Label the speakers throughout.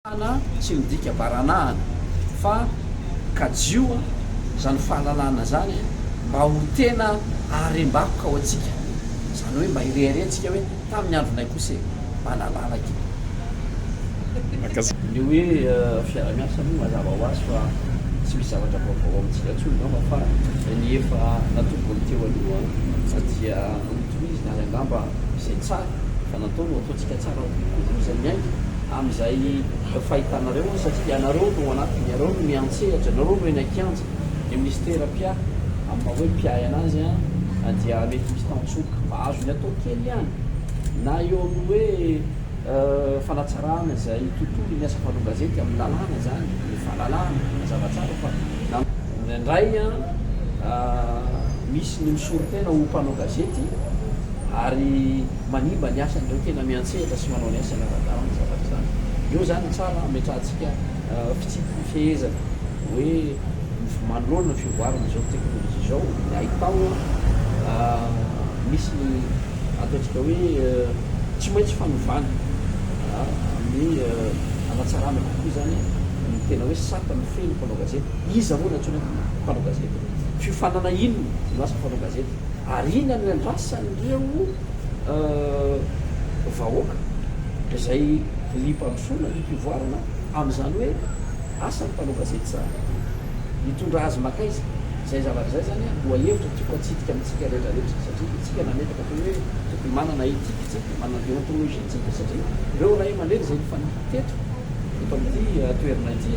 Speaker 1: Fahalalana tsy midika baranahana fa kajio izany fahalalana izany mba ho tena harem-bakoka ho antsika. Izany hoe mba hireharehantsika hoe tamin'ny andronay kosa e, mba nalalaka e. Ny hoe fiaraha-miasa aloha mazava ho azy fa tsy misy zavatra vaovao ao amintsika intsony angamba fa ny efa natombony teo aloha dia notohizina ary angamba izay tsara. natao no ataontsika tsara kokoa izay miainga amin'izay fahitanareo an, satria ianareo no ao anatiny, ianareo no miantsehatra, ianareo no eny an-kianja, ny minisitera mpia amin'ny maha hoe mpiahy anazy an dia mety misy tantsoroka mba azony atao kely ihany na eo amin'ny hoe fanatsarana izay tontolo ny asa mpanao gazety amin'ny lalàna izany, ny fahalalahana mazava tsara fa na indraindray an misy ny misoritena ho mpanao gazety ary. manimba ny asan'ireo tena miantsehatra sy manao ny asany ara-dalana ny zavatra izany. Ireo izany no tsara hametrahantsika fitsipi pifehezana hoe manoloana ny fivoaran' izao teknolojia izao ny haitao misy ny ataontsika hoe tsy maintsy fanovana ny hanatsarana kokoa izany ny tena hoe sata mifehy ny mpanao gazety. Iza moa no antsoina mpanao gazety? Fiofanana inona no asan'ny mpanao gazety? ary inona no iandrasan'ireo vahoaka izay liam-pandrosoana, liam-pivoarana amin'izany hoe asan'ny mpanao gazety izany? Hitondra azy mankaiza? Izay zavatra izay izany lohahevitra tiako hatsidika amintsika rehetrarehetra satria isika nametraka teo hoe tokony manana éthique isika, manana déontologie isika satria ireo ray aman-dreny izay nifanipaka. Teto, eto amin'ity toerana ity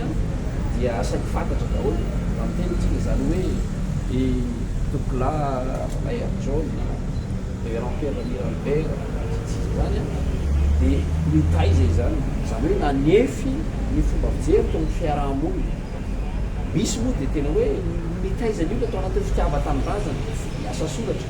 Speaker 1: dia saiky fantatra daholo raha miteny isika izany hoe i Doucla Bayer John, Reverend Pierre Miralbert sy ny sisa izany dia nitaiza izany, izany hoe nanefy ny fomba fijery teo amin'ny fiaraha-monina. Misy moa dia tena hoe nitaiza ny olona tao anatin'ny fitiavan-tanindrazana, ny asa soratra.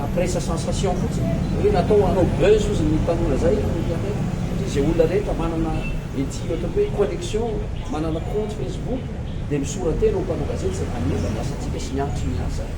Speaker 1: Mampiresaha sensation fotsiny. Hoe natao hanao buzz hozy ny tanora zay ny internet satria ze olona rehetra manana ity ohatran'ny hoe connexion, manana compte facebook dia misoratena ho mpanao gazety zay manomba ny asantsika sy mianatry ny asa.